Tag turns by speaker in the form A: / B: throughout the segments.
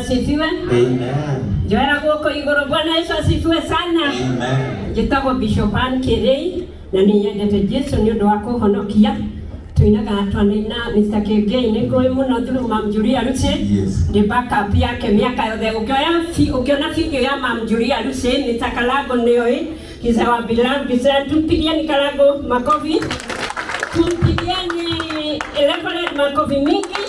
A: Asifiwe. Amen.
B: Njoera guoko
A: iguru. Bwana Yesu asifiwe sana. Amen. Njĩtagwo
B: Bishop
A: Ann Kĩrĩi na nĩ nyendete Jesu nĩ ũndũ wa kũhonokia tuinaga twanaina Mr. Kĩngĩi nĩ ngũĩ mũno through Mam Julia Lucy Yes. ndĩ backup
B: yake
A: mĩaka yothe ũkĩoya fi- ũkĩona video ya Mam Julia Lucy Mr. Kalago nĩoĩ Kisa wa bila bisa tupigieni kalago makofi. Tupigieni Reverend makofi mingi.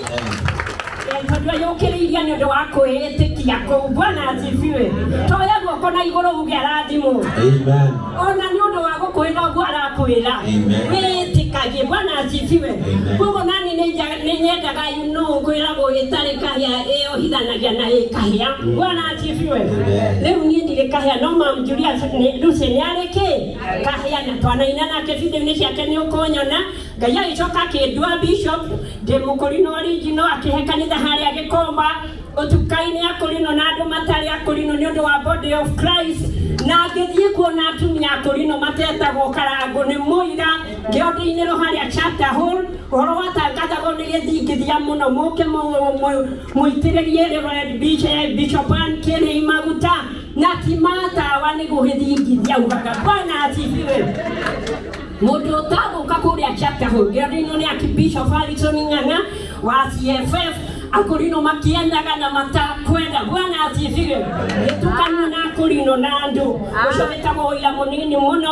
A: Tondũ yũkĩrĩirie nĩ ũndũ wa kwĩĩtĩkia kũu. Bwana asifiwe. Toya guoko na igũrũ uge arathimũ. Amen.
B: Ona nĩ ũndũ wa
A: gũkwĩra ũguo arakwĩra. Amen. Wĩĩtĩkagie.
B: Bwana
A: asifiwe. Amen. Koguo nani nĩ nja- nĩ nyendaga nũũ kwĩragwo ĩtarĩ kahĩa ĩyohithanagia na ĩkahĩa. Bwana Sifiwe. Rĩu niĩ ndirĩ kahĩa no mam Julius nĩ- Lucy nĩ arĩ kĩ kahĩa na twanaina nake video-inĩ ciake nĩ ũkũnyona Ngai agĩcoka akĩndua bishop ndĩ mũkũri na original akĩhe kanitha harĩa gĩkomba ũtukai-inĩ akũrinwo na andũ matarĩ akũrinwo nĩ ũndũ wa body of Christ na ngĩthiĩ kuona atumia akũrinwo matetagwo karangũ nĩ mũira ngĩondeinĩrwo harĩa chapter hall ũhoro watangathagwo nĩ gĩthingithia mũno mũke mũ- mũ- Mũitĩrĩrie Reverend BJ Bishop Ann Kieni maguta na ti ma tawa nĩ gũgĩthingithia ugaga Bwana asifiwe. Mũndũ ũtagũka kũrĩa chapter hau gĩathĩ-inĩ nĩ aki Bishop Harrison Ng'ang'a wa CFF akorino makĩendaga na matakwenda Bwana asifiwe. Gĩtukanio na akorino na andũ ũcio wĩtagwo ũira mũnini mũno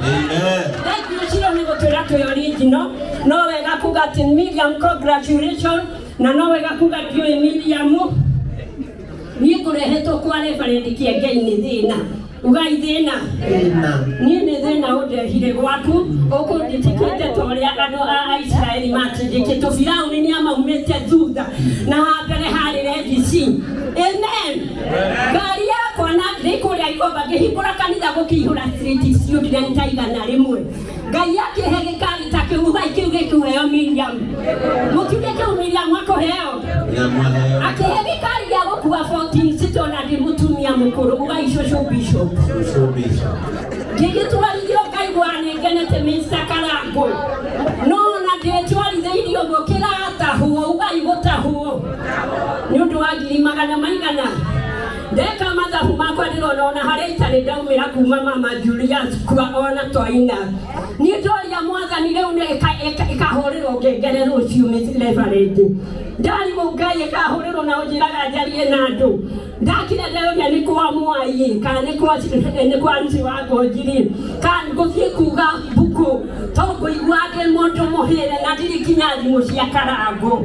A: Amen. Ekyo kiro nigotwerako yo original nowe gakuga ati Miriam congratulation na nowe gakuga ati yo Miriam nikurehetwo kwa reverend kiengei ni thina ugai thina ni ni thina undehire gwaku ukundindikite ta uria andu a Israeli matindikitwo Firauni ni amaumite thutha na ha mbere harĩ Red Sea amen ngari yakwa na nĩ kũrĩa igomba ngĩhingũra kanitha gũkĩihũra street icio nginya nĩ ta igana rĩmwe ngai akĩhe gĩkari ta kĩu ugai kĩu gĩkĩheo miriam mũkiuge kĩu miriam akũheo akĩhe gĩkari gĩa gũkua 14 sito na ndĩ mũtumia mũkũrũ ugai cũcũ bishop ngĩgĩtwarithio ngaigua nĩngenete Mr. Karangũ no na ndĩtwarithĩirio gũkĩratahwo ugai gũtahwo nĩ ũndũ wa ngiri magana maigana ndeka mathabu makwa ndĩrona ona harĩa itarĩ ndaumĩra kuma mama Julius kwa ona twaina niĩ ndoria mwathani rĩu nĩ ĩka- ĩka- ĩkahũrĩrwo ngengere rũciũ mĩrebarĩndĩ ndarimũ ngai ĩkahũrĩrwo na ũnjĩraga njarie na andũ ndakira ndĩroria nĩ kwa mwaiĩ kana nĩ kwa nĩ kwa ruci wa ngonjiri kana ngũthiĩ kuga mbuku to ngũigua ndĩ mũndũ mũhĩre na ndirĩ kinya thimũ cia karango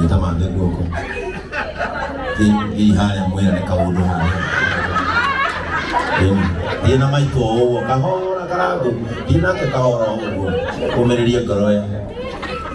B: nĩtamande guoko ii harĩa mwĩra nĩ kaũndũ harĩa thiĩ na maitũ o ũguo kahora karangũ thiĩ nake kahora o ũguo kũmĩrĩria ngoro ya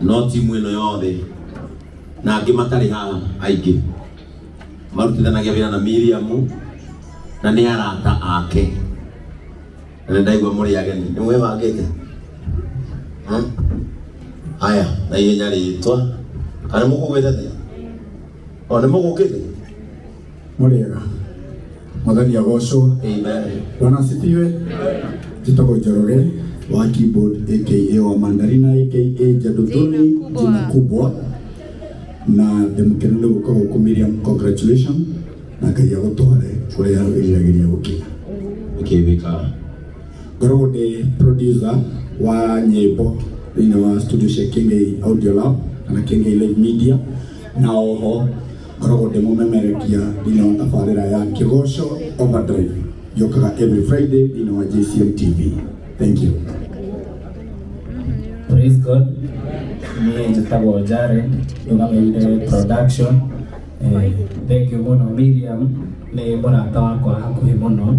B: no timu ĩno yothe na angĩ matarĩ haha aingĩ marutithanagia wĩra na Miriam na nĩ arata ake na nĩ ndaigua mũrĩ ageni nĩ mwĩbangĩte Hmm? haya na ihenya rĩtwa kana nĩ mũkũgwĩte o nĩ mũgũkĩte
C: mũrĩega mwathani agocwo bwana
B: asifiwe
C: njĩtagwo njoroge wa keyboard aka wa mandarina aka njandũtũni njina kubwa na ndĩmũkene nĩ gũka gũkũ miriam congratulation na ngai agũtware kũrĩa wĩriragĩria gũkinya ũkĩthĩka ngoragwo ndĩ producer wa nyĩmbo thĩinĩ wa studio cia kengei audio lab kana kengei live media na oho Ngoragwo ndĩ mũmemerekia thĩinĩ wa tabarĩra ya Kĩgoco Overdrive yũkaga every Friday thĩinĩ wa JCM TV. Thank you.
D: Praise God. Niĩ njĩtagwo Jared, ndũgamĩire production. Eh, Thank you mũno Miriam, nĩ mũrata wakwa hakuhĩ mũno.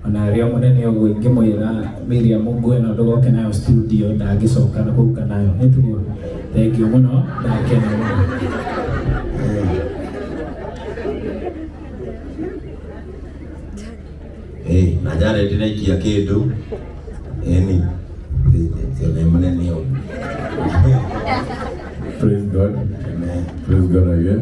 D: O na arĩ o mũnene ũguo ingĩmwĩra Miriam ngue ĩno ndũgoke nayo studio ndangĩcoka gũka nayo. Nĩ tiguo? Thengiũ mũno, ndakena mũno.
B: Ĩĩ, na Jared nĩaikia kĩndũ. Ĩni, ũcio nĩ mũnene ũguo. Praise God.
E: Amen. Praise
B: God again.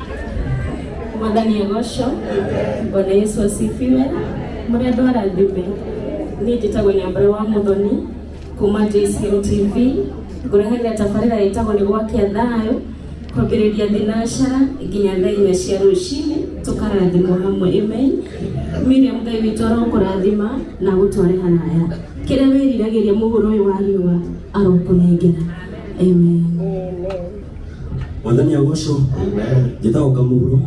A: Mwathani agocwo. Bwana Yesu asifiwe. Mũrĩa andũ arathime. Niĩ njĩtagwo Nyambura wa Mũthoni kuma JCM TV. Ngũrehagĩra tabarĩra ĩtagwo nĩ gwakia thayũ kwambĩrĩria thinashara nginya thaa inya cia rũcinĩ tũkarathimwo hamwe amen. Miriam Ngai witũ arokũrathima na agũtware haraya. Kĩrĩa wĩriragĩria mũhũro ũyũ wa riũa arokũnengera. Amen.
F: mwathani agocwo njĩtaga ũkamuguro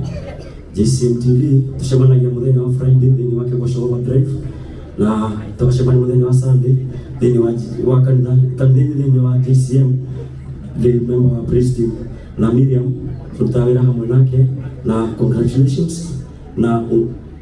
F: JCM TV tucemanagia muthenya wa Friday thĩinĩ wa Kĩgoco Overdrive na tũgacemania muthenya wa Sunday thĩinĩ wa wa kanitha kanitha-inĩ thĩinĩ wa JCM the member wa praise team na Miriam tũrutaga wĩra hamwe nake na congratulations na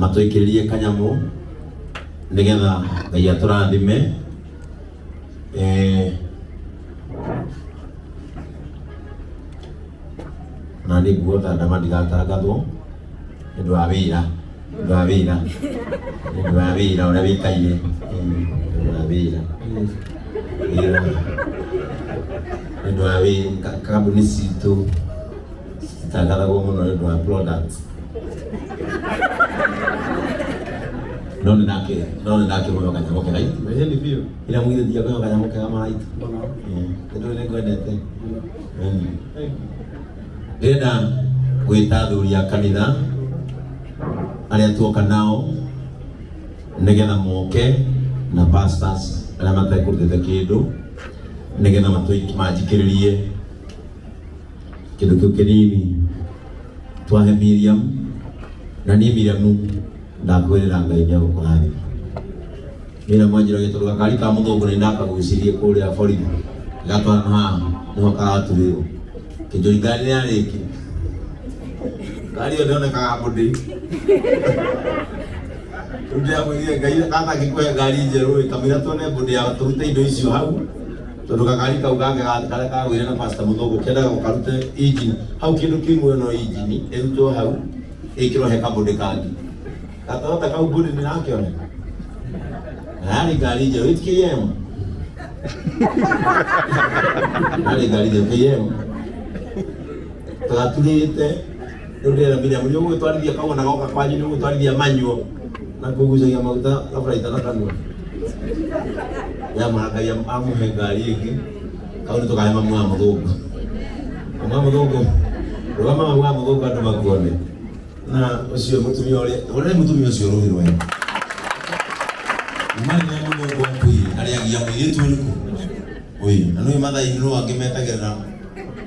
B: matũikĩrĩrie kanyamũ nĩgetha ngai atũrathime eh, na nĩ nguo ta ndama ndigatangathwo nĩ ũndũ wa wĩra nĩ ũndũ wa wĩra nĩ ũndũ wa wĩra ũrĩa wĩkaire Eh, nĩ ũndũ wa wĩra wĩra nĩ ũndũ wa wĩra kambuni citũ Ndakaragwo muno nĩ ũndũ wa product. No nĩ ndake, no nĩ ndake mũno kanyamũ kega itu. Ĩĩ nĩ biũ. Ĩrĩa mwire thia kwa kanyamũ kega mara itu. Ndio nĩ ngwendete. Ndĩrenda gwĩta athuri a kanitha arĩa tuoka nao nĩgetha moke na pastors arĩa matekũrutĩte kĩndũ nĩgetha matũi- manjikĩrĩrie kĩndũ kĩu kĩnini twahe Miriam na niĩ Miriam ndakwĩrĩra Ngai nĩ agũkũrathima Miriam anjĩra gĩtũrũ gakari ka mũthũngũ nĩ ndakagucirie kũrĩa borithi gatwana haha nĩho karaturĩrwo kĩnjũri ngari nĩ yarĩki ngari ĩyo ndĩonekaga mũndĩ rĩu ndĩramwĩrire Ngai kangĩkũhe ngari njerũ ĩ kamũira tuone mbũndĩ ya tũrute indo icio hau tondu gakari kau gake ga- karia kagwire na pastor muthogo kendaga gukarute injini hau kindu kimwe no injini irutwo hau ikirwo he kabundi kangi gatorota kau bundi ni nakione nari ngari njeru iti km nari ngari njeru km tugaturite Rĩu ndĩrera Miriam, nĩ ũgũgĩtwarithia kaguo na goka kwanyu, nĩ ũgũgĩtwarithia manyuo na kũgucagia maguta kaburaita na kanua. Yamara Ngai am- amũhe ngari ĩngĩ, kau nĩ tũkahe mamu wa mũthũngũ. Mamu wa mũthũngũ, rũgama mamu wa mũthũngũ andũ makuone. Na ũcio mũtumia ũrĩa, ũrĩa mũtumia ũcio rũĩ rwega. Mari ya mũthũngũ akuire, arĩagia mũirĩtu ũrĩkũ? Ũyũ, na nũĩ mathai nĩ rũangĩ metagĩrĩra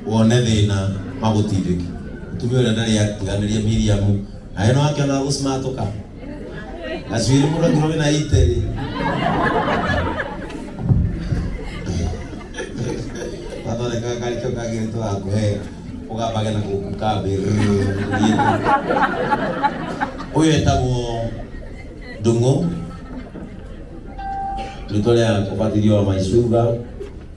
B: wone thina magutindiki mutumia uria ndari yatiganiria Miriamu na ino akiona gucimatuka gacuiri mundu angirwo wina iteri gathondeka gakari kau kagirite gakuhe ugambage na guku kambi uyu etagwo ndungu ritwa ria kubatithio wa maicuga